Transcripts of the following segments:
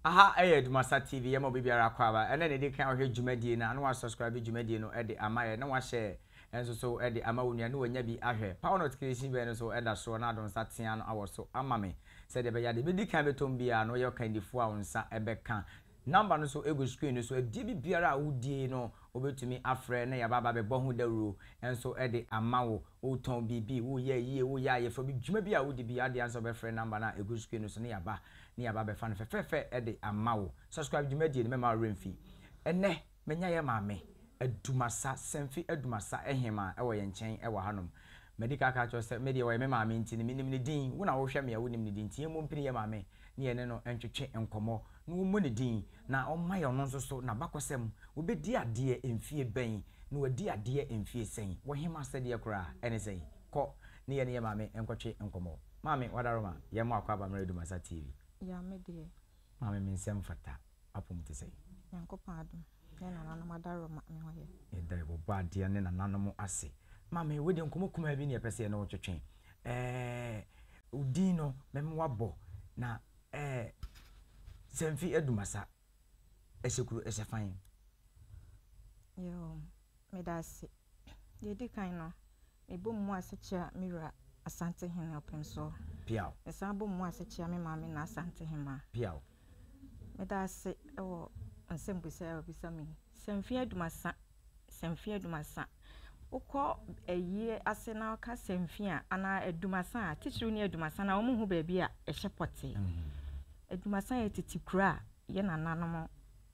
aha ɛyɛ adumasa tv yɛ ma obibiara akɔ aba ɛna na ɛdi kan ɔhwɛ dwumadie no ano asubscribe dwumadie no ɛde ama yɛ na wahyɛ ɛnso so ɛde ama wo nua ne wanya bi ahwɛ power notification bɛn no so ɛda soɔ na adonsa tea no awɔ so ama me sɛdeɛ ɛbɛyɛ adeɛ bɛdi kan bɛtɔm biara na ɔyɛ ɔkandifoɔ a wo nsa ɛbɛka Nɔmba no so gu screen no so. Adie bi biara a wodie no, wobɛtumi afrɛ na yɛaba aba abɛbɔ ho dawuro nso de ama wo. Wotɔn biribi, woyɛ ayie, woyɛ ayeforo bi, dwuma bi a wodi biara deɛ ansa wobɛfrɛ nɔmba no a ɛgu screen no so na yɛaba na yɛaba abɛfa no fɛfɛɛfɛ de ama wo. Subscribe dwumadie no, mɛmma wo werɛ mfi ɛnnɛ. Manya yɛn maame, Adumasa, sɛ mfe Adumasa Hemaa wɔ yɛn nkyɛn wɔ hanom. Madi kan aka akyerɛ wo sɛ, me deɛ wɔyɛ me maame nti no, menim ne din. Wo na wohwɛ me a wonim ne din nti, yɛmmɔ mpini yɛn maame na yɛne no ntwetwe nkɔmmɔ na wɔmmɔ ne din na ɔmma yɛn ɔno nso so n'abakɔsɛm. Wobɛdi adeɛ mfeɛ bɛn na wadi adeɛ mfeɛ sɛn? Wɔ Hemaa asɛdeɛ koraa ne sɛn? Kɔ ne yɛne yɛn maame nkɔtwe nkɔmmɔ. Maame, Wadaroma, yɛmmɔ akwaaba mmerɛ Adumasa TV. Ya me deɛ. Maame me nsɛm fata apom te sɛ. Nyankopɔn adom ne nananom adaroma me ho yɛ. Yɛda Ɔbɔ adeɛ ne nananom ase. Maame wei deɛ nkɔmɔ kumaa bi ne yɛpɛ sɛ yɛne wo twetwe. Ɛɛɛ wo din no meme wabɔ na ɛɛ Sɛmfi Adumasa ɛhyɛ kuro ɛhyɛ fan. Yoo Meda ase. Deɛ ɛdi kan no, mebɔ mu ase kyea me wura Asantehene Ɔpemsoɔ. Piaw. Mesan bɔ mu ase kyea me maame Naa Asantehema. Piaw. Meda ase wɔ nsɛmbusa yi a wabisa me yi. Sɛ mfeɛ adumasa, sɛ mfeɛ adumasa, wokɔ ayie ase na woka sɛ mfeɛ a anaa adumasa a, titiriw ne adumasa no a, wɔhu baabi a ɛhyɛ pɔtee. Adumasa yɛ tete kuro a yɛn nananom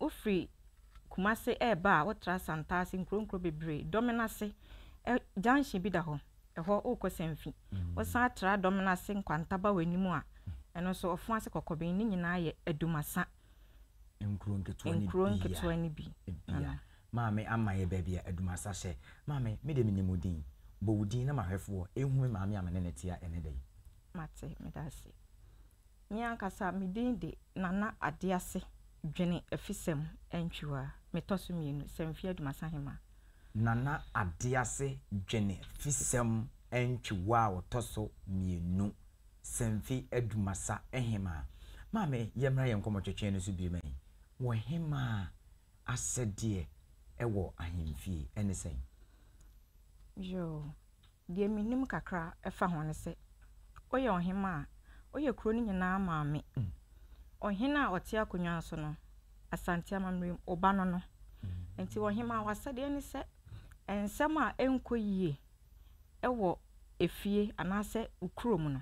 Wofiri Kumase reba a, wotra Santase, nkuro nkuro bebree. Dɔmenase ɛ, junction bi da hɔ, ɛhɔ wokɔ Sanfi. Wosan tra Dɔmenase nkwanta ba w'anim a, ɛno nso Ɔfoase, Kɔkɔben, ne nyinaa yɛ Adumasa nkuro nketewa no nkuro bi nketewa no bi. a, bi a. Maame ama yɛ baabi a Adumasa hyɛ. Maame, me deɛ menim wo din. Bɔ wo din na m'ahwɛfoɔ nhu me maame a me ne no te a ɛnnɛ da yi. Mate, meda ase. Me ankasa me din de Nana Adease Dwene Afisɛm Antwiwa, metɔ so mmienu, Samfi Adumasa Hema. Nana Adease Dwene Afisɛm Antwiwa a ɔtɔ so mmienu, Samfi Adumasa Hema. Maame, yɛmmra yɛn nkɔmmɔtwetwe no so bio ma yi. Wɔ hema a, asɛdeɛ wɔ ahemfie ne sɛn? Yoo, Deɛ menim kakra fa ho ne sɛ, woyɛ ɔhemmaa a, woyɛ kuro no nyinaa maame. Ɔhene a ɔte akonnwa no so no, Asante amammerɛ mu, wo ba no no. Nti ɔhemmaa, w'asɛdeɛ ne sɛ, nsɛm a ɛnkɔ yie wɔ efie anaasɛ wo kurom no,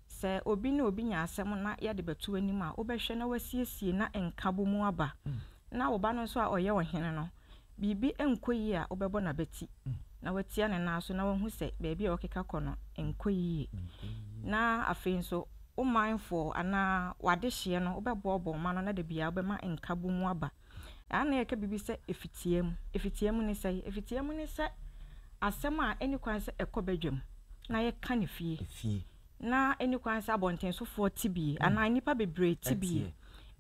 sɛ obi ne obi nya asɛm na yɛde bɛto w'anim a, wobɛhwɛ na woasiesie na nkabɔmu aba. Na wo ba no nso a ɔyɛ ɔhene no, Biribi nkɔ yie a, wobɛbɔ no abati na woatia ne nan so na woahu sɛ baabi a ɔrekeka kɔ no nkɔ yie. Na afei nso, wo manfoɔ anaa w'adehyeɛ no, wobɛboaboa wo ma no na da biara wobɛma nkabom aba. Ɛha na yɛka biribi sɛ efitiamu. Efitiamu ne sɛn? Efitiamu ne sɛ asɛm a ɛnni kwan sɛ ɛkɔ badwam na yɛka no fie. Ná enni kwan sɛ abɔnten sofoɔ te bi anaa nnipa bebree te bi.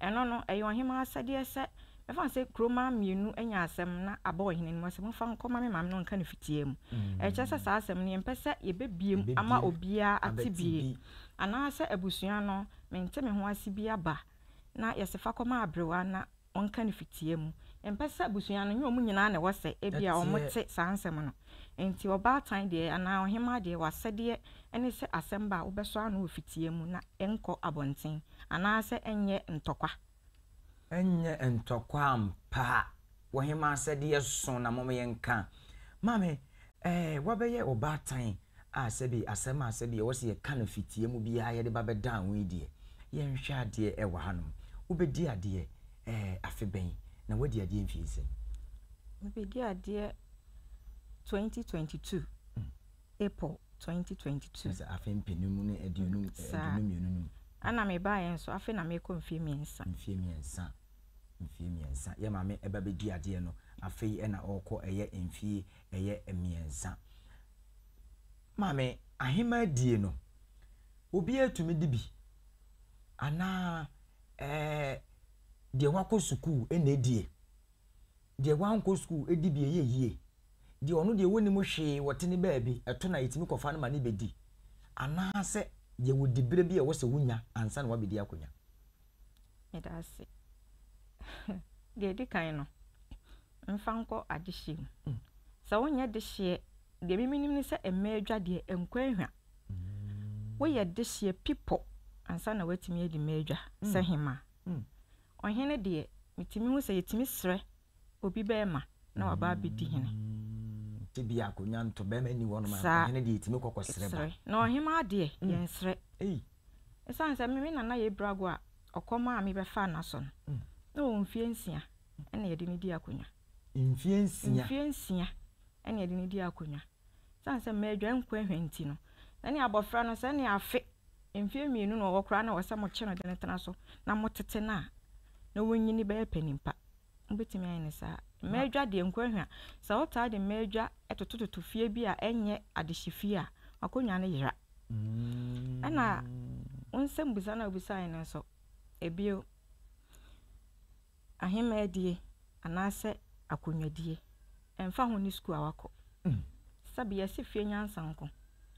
Ɛno no, ɛyɛ ɔhemmaa asɛdeɛ sɛ, mɛfa no sɛ kuro mmaa mmienu anya asɛm na aba ɔhene anim hɔ sɛ, Momfa nkɔma me maame na ɔnka no fitia mu. Ɛkyerɛ sɛ saa asɛm no, yɛmpɛ sɛ yɛbɛbue mu ama obiara ate bi, anaasɛ abusua no, mente me ho ase bi aba. na yɛse fa kɔma aberewa na ɔnka no fitia mu. Yɛmpɛ sɛ abusua no, ɛnyɛ wɔn nyinaa na ɛwɔ sɛ ebia wɔte saa nsɛm no. Enti ɔbaatan deɛ anaa ɔhemaa deɛ, w'asɛdeɛ ne sɛ asɛm ba a, wobɛsɔ ano wɔ fitia mu na ɛnkɔ abɔnten, anaasɛ ɛnyɛ ntɔkwa. Ɛnyɛ ntɔkwa ampa a, Wɔ he ma asɛdeɛ so na mom yɛnka? Maame, Ɛɛ, wabɛyɛ ɔbaatan a sɛbi asɛm a sɛbi ɛwɔ sɛ yɛka no fitia mu biaa yɛde ba bɛdaa ho yi deɛ, yɛnhwɛ adeɛ ɛwɔ hanom. Wobɛdi adeɛ, ɛɛ, afe bɛn? Na woadi adeɛ mfie nsɛn? Mebɛdi adeɛ 2022, April 2022. Kyerɛ sɛ afe mpenu ne aduonu, aduonu mmienu no mu. Saa. Ɛna mebaeɛ nso, afe na merekɔ mfie mmiɛnsa. Mfie mmiɛnsa. mfeɛ mmiɛnsa yɛ maame ɛba bɛdi adeɛ no afei ɛna ɔɔkɔ ɛyɛ mfeɛ ɛyɛ mmiɛnsa maame ahemaa die no obiara tumi di bi anaa ɛɛ deɛ wakɔ sukuu ɛna ɛdie deɛ wankɔ sukuu ɛdi bi ɛyɛ yie deɛ ɔno deɛ wɔnim hwee wɔte ne baabi ɛto na yɛtumi kɔfa no ma ne bɛdi anaasɛ yɛwɔ diberɛ bi a ɛwɔ sɛ wonya ansa na wabɛdi akɔnya Meda ase. Deɛ ɛdi kan no, mfa nkɔ adehyeɛ mu. Sɛ wonyɛ dehyeɛ, deɛ me menim ne sɛ mmaa adwa deɛ ɛnkɔ ahwa. Woyɛ dehyeɛ pipɔ ansa na woatumi adi mmaa adwa sɛ hema. Ɔhene deɛ, metumi hu sɛ yɛtumi srɛ Obi bɛɛma na waba abɛdi hene. Tebea a akonwa nto bɛɛma nni hɔ nom a, ɔhene deɛ ɛtumi kɔ kɔ srɛ ba. Na ɔhemaa deɛ, yɛnsrɛ. Ɛsiane sɛ me me nana yɛ Brago a ɔkɔ maa me bɛfaa n'asɔ no, na ɔwɔ mfeɛ nsia ɛna yɛde no dii akonwa. Mfeɛ nsia? Mfeɛ nsia ɛna yɛde no dii akonwa. Esiane sɛ madwan nkoahwɛ nti no, na ne abofra no sɛ ne afe mfe mmienu na ɔwɔ koraa na ɛwɔ sɛ mokye no de no tena so na motete no a na wanyini bɛyɛ panin pa. Mubetumi ayɛ no saa. Mmadwa deɛ, nkoahwɛ, sɛ wotaa de mmadwa totototo fie bi a ɛnyɛ adehyefie a, w'akonnwa no yera. Ɛnna wo nsɛmmisa no a wubisae no nso, bio, ahemmaadie anaasɛ akonnwadie, ɛmfa ho ne sukuu a wakɔ. Sɛbe, yɛse fie nyansa nko,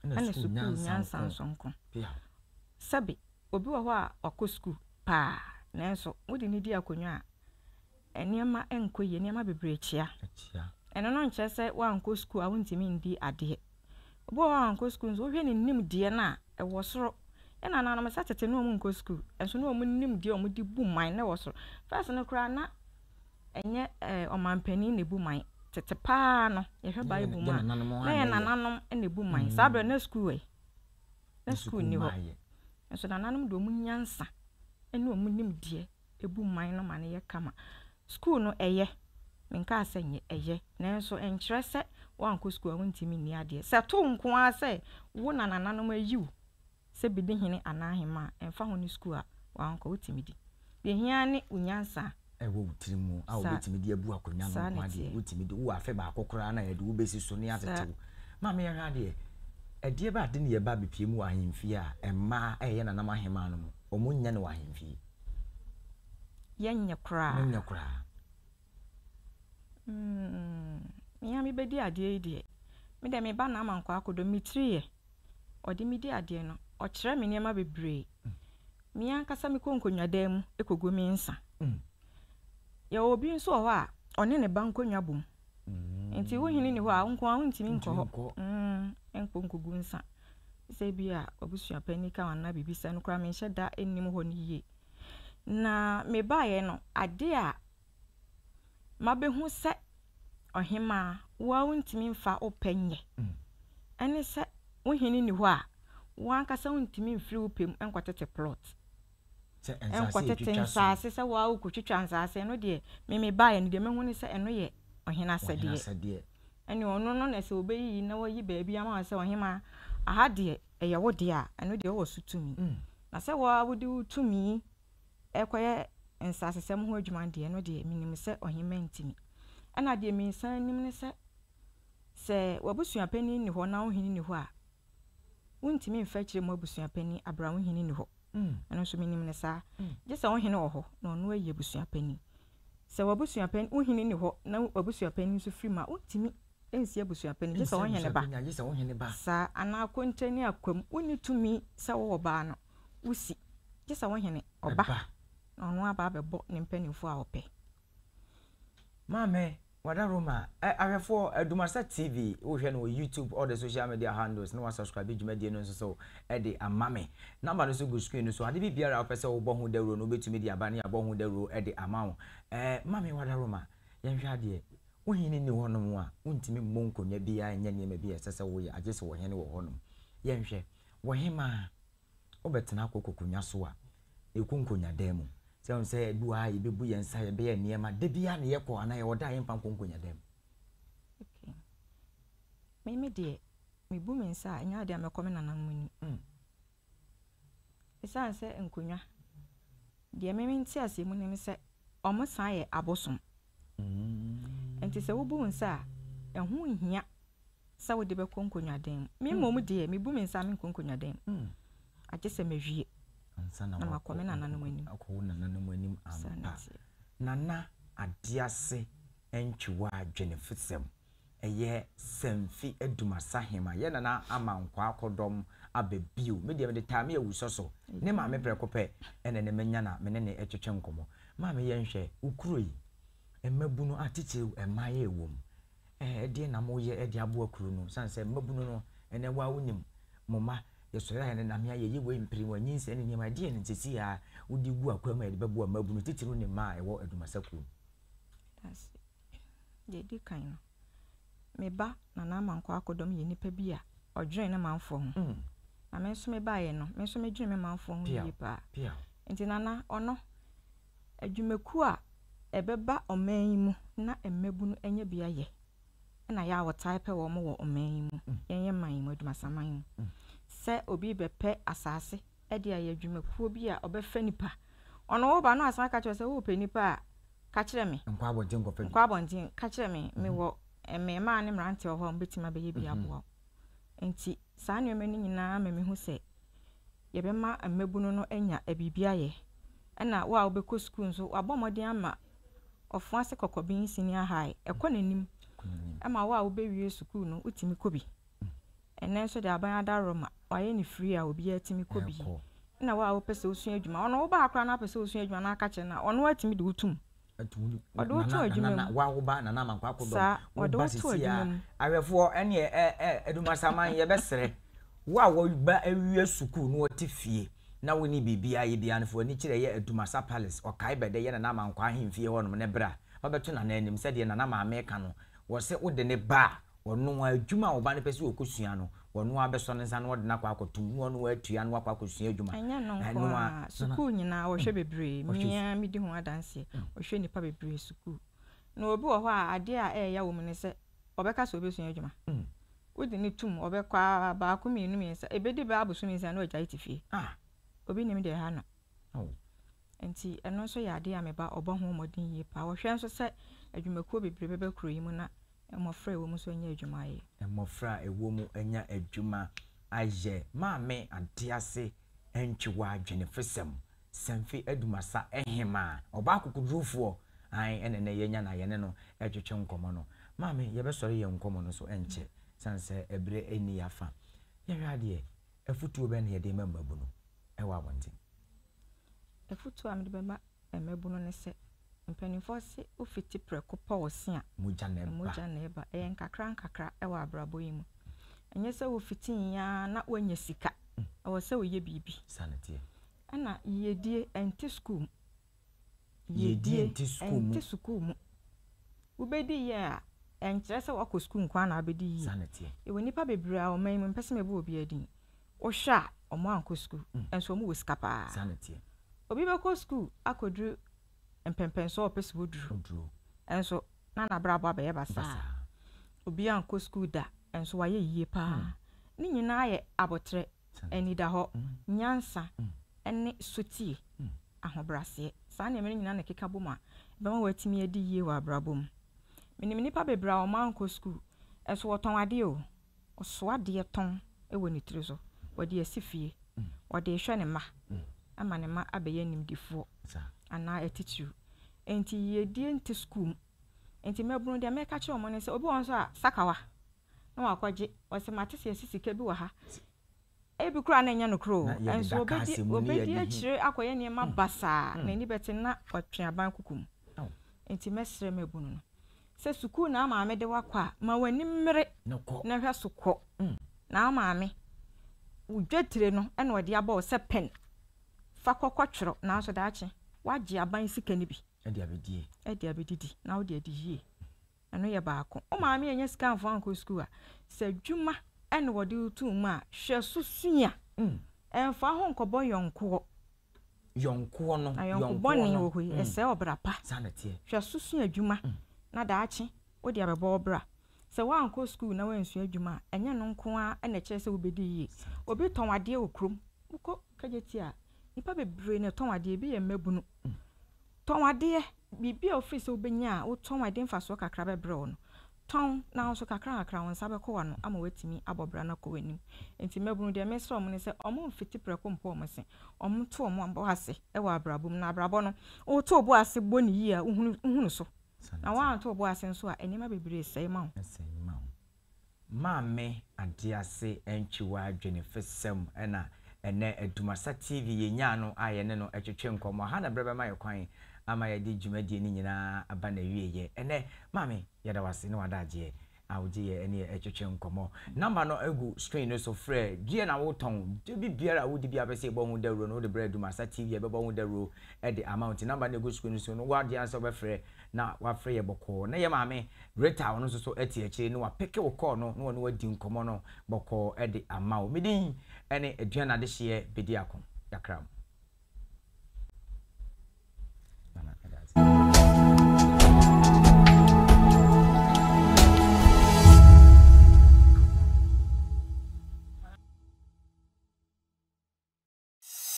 ɛna sukuu nyansa nso nko. Sɛbe, obi wɔ hɔ a wakɔ sukuu paa, nanso wode no di akonnwa a, nneɛma nkɔ yie, nneɛma bebree kyea. Ɛno no nkyerɛ sɛ woankɔ sukuu a wontumi ndi adeɛ. Obi wɔ hɔ a ɔnnkɔ skuul nso wohwɛ ne nyimdzee no a ɔwɔ sor. Nna nananom nsa tsetse na wɔnnkɔ skuul nso na wɔn nyimdzee a wɔdze bu man no wɔ sor. First no koraa na nnyɛ ɔmampanyin na ebu man, tsetse paa no yɛhwɛ bible mu a na yɛ nananom na ebu man. Saa ber no na skuul ɛ? Na skuul nnyi hɔ. Nso nananom dze wɔn nyansa na wɔn nyimdzee. ɛbu mman no ma no yɛ kama. Sukuu no, ɛyɛ. Menkaa sɛ nyɛ, ɛyɛ. Nanso ɛnkyerɛ sɛ woankɔ sukuu a wontumi nni adeɛ. Sɛ tow nko ara sɛ wo na nananom ayi wo sɛ bedi hene anaa ahemmaa a, ɛmfa ho ne sukuu a woankɔ, wotumi di. Deɛ ɛhia ara ne wo nyansa a. Ɛwɔ wo tirim mu a wobɛtumi de abu akonnwa no nko ara deɛ, wotumi di. Wowɔ afe baako koraa na yɛde wo bɛsi so na yɛatete wo. Maame yɛnhwɛ adeɛ, ɛdeɛ bɛ ade na yɛba abɛpue mu wɔ ahemfie a mmaa reyɛ nanam ahemmaa no mu? Wɔn nyɛ no wɔ ahemfie. Yɛ nyɛ koraa. Mo nyɛ koraa. Mm, me ara mebɛdi adeɛ yi deɛ. Me deɛ me ba na ama nkɔ akɔdɔ me tiri yɛ. Ɔde me di adeɛ no, ɔkyerɛ me nneɛma bebree. Mm. Me ankasa mekɔ nkonnwadan mu kɔgu me nsa. Mm. Yɛwɔ obi nso wɔ hɔ a, ɔne ne ba nkonnwa bɔ mu. Nti wo hene ni hɔ a, wo nko ara wontumi nkɔ hɔ nkɔ nkɔgu nsa. Sɛ bi a wabusua panyin ka ho anaa biribi sɛ no koraa menhyɛ da nnim hɔ no yie. Na mebaeɛ no, adeɛ a mabɛhu sɛ ɔhemaa wo ara wontumi mfa wo pɛ nyɛ ɛne sɛ wo hene ni hɔ a, wo ankasa wontumi mfiri wo pɛ mu nkɔtete plot. nkɔtete nsaase sɛ wo ara wokotwitwa nsaase, ɛno deɛ me mebaeɛ no deɛ mahu ne sɛ ɛno yɛ ɔhene asɛdeɛ. Ɛne ɔno no na sɛ ɔbɛyiyi na wayi baabi ama wo sɛ ɔhemaa aha deɛ ɛyɛ wo deɛ a, ɛno deɛ wowɔ so tumi. Mm. Na sɛ wo ara wode wo tumi ɛkɔyɛ nsaasesɛm ho adwuma deɛ ɛno deɛ menim sɛ ɔhemaa ntumi. Ɛna deɛ mensan nim ne sɛ sɛ w'abusuapanin nni hɔ na wo hene nni hɔ a, wontumi mfa akyire mu abusuapanin abira wo hene nni hɔ. Ɛno nso menim no saa. Gye sɛ wo hene wɔ hɔ na ɔno ayi abusuapanin. Sɛ w'abusuapanin, wo hene nni hɔ na w'abusuapanin nso firi mu a, wontumi nsi abusuapanin, gye sɛ wo hene ba. Saa anaa kontani akwam, wonni tumi sɛ wowɔ baa no, wosi, gye sɛ wo hene ɔba na ɔno aba abɛbɔ ne mpanimfoɔ a ɔpɛ. Maame, wada Roma ɛ ahwɛfoɔ Dumarsa TV wohwɛ no wɔ YouTube all the social media handles na wasubscribe dwumadie no nso so de ama me. Number no so gu screen no so ade bi biara a wopɛ sɛ wobɔ ho dawuro no wobɛtumi de aba ne yɛabɔ ho dawuro de ama wo. Ɛ Maame, wada Roma yɛnhwɛ adeɛ wo hene nni hɔnom a wontumi mmɔ nkonnwa biara nyɛ nneɛma bi a ɛsɛ sɛ woyɛ agye sɛ wɔ hene wɔ hɔnom. Yɛnhwɛ wɔ hemaa. Wobɛtena akɔ kokonya so a, yɛkɔ nkonyadan mu. Sɛ wohu sɛ ɛdu a yɛbɛbu yɛn nsa, yɛbɛyɛ nneɛma. Da biara na yɛkɔ anaa yɛwɔ da a yɛmfa nkɔ nkonyadan mu. Okay. Me me deɛ, mebu me nsa a, ɛnyɛ adeɛ a mɛkɔ me nananom anim. Mm. Ɛsiane sɛ nkonwa, deɛ me me nteaseɛ mu nim sɛ wɔsan yɛ abosom. Mm. Nti sɛ wobu wo nsa a, ɛho nhia sɛ wode bɛkɔ nkonnwadan mu. Me mmom deɛ, mebu me nsa a menkɔ nkonnwadan mu, agye sɛ mawie na makɔ me nananom anim. Akɔ wo nananom anim ampa. Nana Adease Antwiwa Dwenefosɛm, Ɛyɛ Samfi Adumasa Hema, Yɛ Nana Ama Nkwaa Kɔdɔm Aba Bio, Me deɛ mede Taame Awusɔ so ne maame prɛko pɛ na ɛnɛ manya na me ne no retwetwe nkɔmmɔ. Maame yɛnhwɛ wo kuro yi, mmabunu atitiriw mmaeɛ wom, Ɛdeɛn na mo yɛ de aboa kuro no sane sɛ mmabunu no ɛnɛ waa wo nim mo mma yɛsɔre ayɛ no namea yɛyɛ wei mpere wɔ nyinsɛn ne nneɛma ɛdeɛn nti sɛ yaa wo de gu akwan mu a yɛde bɛboa mmabunu titiriw ne mmaa a ɛwɔ adumasa kuo mu. Ase. Deɛ ɛdi kan no, me ba Nana Amankwaa Akodɔm yɛ nipa bi a ɔdwene ne manfoɔ ho. Mm. Na me nso me baeɛ no, me nso medwene me manfoɔ ho yie paa. Piaw. Nti Nana, ɔno. Adwumakuo a ɛbɛba ɔman yi mu na mmabunu anya bi ayɛ na yɛ a wɔtaa pɛ wɔn wɔ ɔman yi mu, yɛn yɛ man yi mu, adwumasaman yi mu. Sɛ obi bɛpɛ asase de ayɛ adwumakuo bi a ɔbɛfa nipa, ɔno woba no asan ka kyerɛ sɛ wopɛ nipa a, ka kyerɛ me. Nkɔ abɔnten nkɔfa bi. Nkɔ abɔnten, ka kyerɛ me, mhm. mewɔ eh, mmarima ne mmeranteɛ wɔ hɔ a wɔbɛtumi abɛyɛ bi mhm. aboa wo. Nti saa nneɛma no nyinaa ma mehu sɛ yɛbɛma mmabunu no anya biribi ayɛ, ɛna wo a wobɛkɔ sukuu nso wabɔ mmɔden ama ɔfo ase kɔkɔben senior high ɛkɔ n'anim ɛma wo a wobɛwie sukuu no wotumi kɔ bi ɛnɛ nso de aban adaworɔ ma wayɛ ne free a obiara tumi kɔ bi ɛna wo a wopɛ sɛ wosua adwuma ɔno wobaa koraa na apɛ sɛ wosua adwuma na aka kyerɛ no a ɔno atumi de wotum Wɔde wo to adwuma mu. Saa, wɔde wo to adwuma mu. Ahwɛfoɔ ɛneɛ Adumasaman yɛbɛsrɛ wo a wɔba awie sukuu na wɔte fie na wonni biribiara yɛ biara no fa w'ani kyerɛ yɛ Adumasa Palace Ɔkae bɛdɛ yɛ Nana Amankwa ahemfie hɔnom na bra ma bɛto Nana anim sɛdeɛ Nana Maame ka no wɔse wode ne ba a Ɔno ara, adwuma a ɔba no pɛ sɛ ɔkɔsua no, ɔno ara bɛsɔ ne nsa na ɔde no akɔ akɔtom na ɔno ara atua na wakɔ akɔsua adwuma. Ɛnyɛ ɛno nko ara, sukuu nyinaa wɔhwɛ bebree. Me ara medi ho adanseɛ. Wɔhwɛ nnipa bebree sukuu. Na obi wɔ hɔ a, adeɛ a ɛreya wɔ mu ne sɛ, ɔbɛka sɛ ɔbɛsua adwuma. Wode no tom, ɔbɛkɔ ara, baako, mmienu, mmiɛnsa, ɛbɛdi bɛyɛ abosome nsia na wagyae te fie. Obi nim deɛ ɛha no. Enti ɛno nso yɛ adeɛ a me ba ɔbɔ ho mmɔden yie paa. Ɔhwɛ nso sɛ adwumakuo bebree bɛba kuro yi mu na mmɔfra a ɛwɔ mu nso anya adwuma ayɛ. Mmɔfra a ɛwɔ mu anya adwuma ayɛ. Maame Adease Antwiwa Dwenefosɛm, Sanfi Adumasa Hemaa, ɔbaa akokodurufoɔ, ae, ɛna ɛnnɛ yɛanya no a yɛne no retwetwe nkɔmmɔ no. Maame, yɛbɛsɔre yɛn nkɔmmɔ no so ɛnkyɛ, ɛsiane sɛ ɛberɛ nni yɛn afa. Yɛhwɛ adeɛ, afotuo bɛn na yɛde rema mmabunu wɔ abɔnten? Afotu a mede bɛma mmabunu ne sɛ, Mpanimfoɔ se ofiti prɛko pɛ ɔse a, mogya na ɛba. Ɛyɛ nkakrankakra wɔ abrabɔ yi mu. Ɛnyɛ sɛ wofiti yi ara na woanya sika. Ɛwɔ sɛ woyɛ biribi. Ɛna yiyedie, ɛnte sukuu mu. yiedie nte sukuu mu. Ɛnte sukuu mu. Wobɛdi yie a, ɛnkyerɛ sɛ woakɔ sukuu nko ara na wobɛdi yie. Yɛwɔ nnipa bebree a ɔman yi mu, mempɛ sɛ mebɔ obiara din, wohwɛ a wɔankɔ sukuu, nso wɔwɔ sika pa ara. Obi bɛkɔ sukuu akɔduru mpɛmpɛnsoɔ a ɔpɛ sɛ ɔduru, nso na n'abrabɔ abɛyɛ basaa. Obi ankɔ sukuu da, nso wayɛ yie pa ara. Ne nyinaa yɛ aboterɛ. anidahɔ, nyansa, ne sotie, ahobrɛaseɛ. Saa nneɛma no nyinaa na ɛkeka bom a ɛbɛma woatumi adi yie wɔ abrabɔ mu. Menim nnipa bebree a wɔankɔ sukuu, nso wɔtɔn adeɛ o. Ɔsoa adeɛ tɔn wɔ ne tiri so, ɔde asi fie, ɔde rehwɛ ne mma ama ne mma abɛyɛ animdefoɔ anaa atitiriw. Enti yiedie nte sukuu mu. Enti mmabunu deɛ mɛka kyerɛ wɔn ne sɛ, obi wɔ hɔ nso a, sakawa na wakɔgye. Ɔse mate se yɛse sika bi wɔ ha. Ebi koraa na ɛnyɛ nokorɛ o. Nso obedi obedi akyire akɔyɛ nneɛma basaa a n'ani bɛte na watwe aban kuku mu. Nti mɛsrɛ mabunu no sɛ sukuu na maame de wo akɔ a ma w'ani mmere na hwɛ so kɔ na maame wo dwetire no na ɔde abɔ wo sɛ pen fa kɔ kɔtwerɛ nanso daakye wagye aban sika no bi de abedie de abedidi na wode adi yie. Ɛno yɛ baako. Wo maame annya sika amfa wo ankɔ sukuu a, sɛ adwuma na wɔde wo too mu a, hwɛ so sua. Ɛmfa ho nkɔbɔ yɔnkoɔ. Yɔnkoɔ no, yɔnkoɔ no. Ayɔnko bɔne wɔ hɔ yi, ɛsɛe ɔbra pa. Saa na ɛteɛ. Hwɛ so sua adwuma na daakye wode abɛbɔ wo bra. Sɛ woankɔ sukuu na woansua adwuma a, ɛnyɛ ɛno nko ara na ɛkyerɛ sɛ wobɛdi yie. Obi tɔn adeɛ wɔ kurom. Wokɔ KJT a, nnipa bebree na ɛtɔn adeɛ. Ebi yɛ mmabunu. Tɔn adeɛ, biribi a wofiri sɛ wobɛnya a wotɔn a ɛde mfasoɔ kakra bɛbrɛ wo no, tɔn, nanso kakrankakra wo nsa bɛkɔ w'ano ama woatumi abɔ bra no akɔ w'anim. Enti mmabunu, deɛ mesrɛ wɔn ne sɛ wɔmfiti prɛko mpɔ wɔn se, wɔnto wɔn bo ase wɔ abrabɔ mu. Na abrabɔ no, woto wo bo ase bɔ no yie a, wohunu so, na woanto wo bo ase nso a, nneɛma bebree sɛe ma wo. Maame Adease antwi w'adwene fsɛm na ɛnɛ Dumasa TV yɛnyaa no a yɛne no twetwe nkɔmmɔ. Aha na berɛ bɛma yɛ kwan ama yɛde dwumadie no nyinaa aba n'awieɛ. Ɛnɛ Maame yɛda wo ase ne w'adagyeɛ a wogye yɛ ne yɛ twetwe nkɔmmɔ. Number no gu screen no so, frɛ. Deɛ na wotɔn, dwa bi biara a wodi bi a wopɛ sɛ yɛbɔ ho dawuro no wode brɛ Dumasa TV a yɛbɛbɔ ho dawuro de ama wo. Nti number no gu screen no so no wo adeɛ ansa wobɛfrɛ na wafrɛ yɛ bɔkɔɔ na yɛ maame Rita ɔno nso so te akyire no wapeke wo kɔɔ no na ɔne adi nkɔmmɔ no bɔkɔɔ de ama wo. Me din ne Aduane Adehyeɛ Bediako Yakram.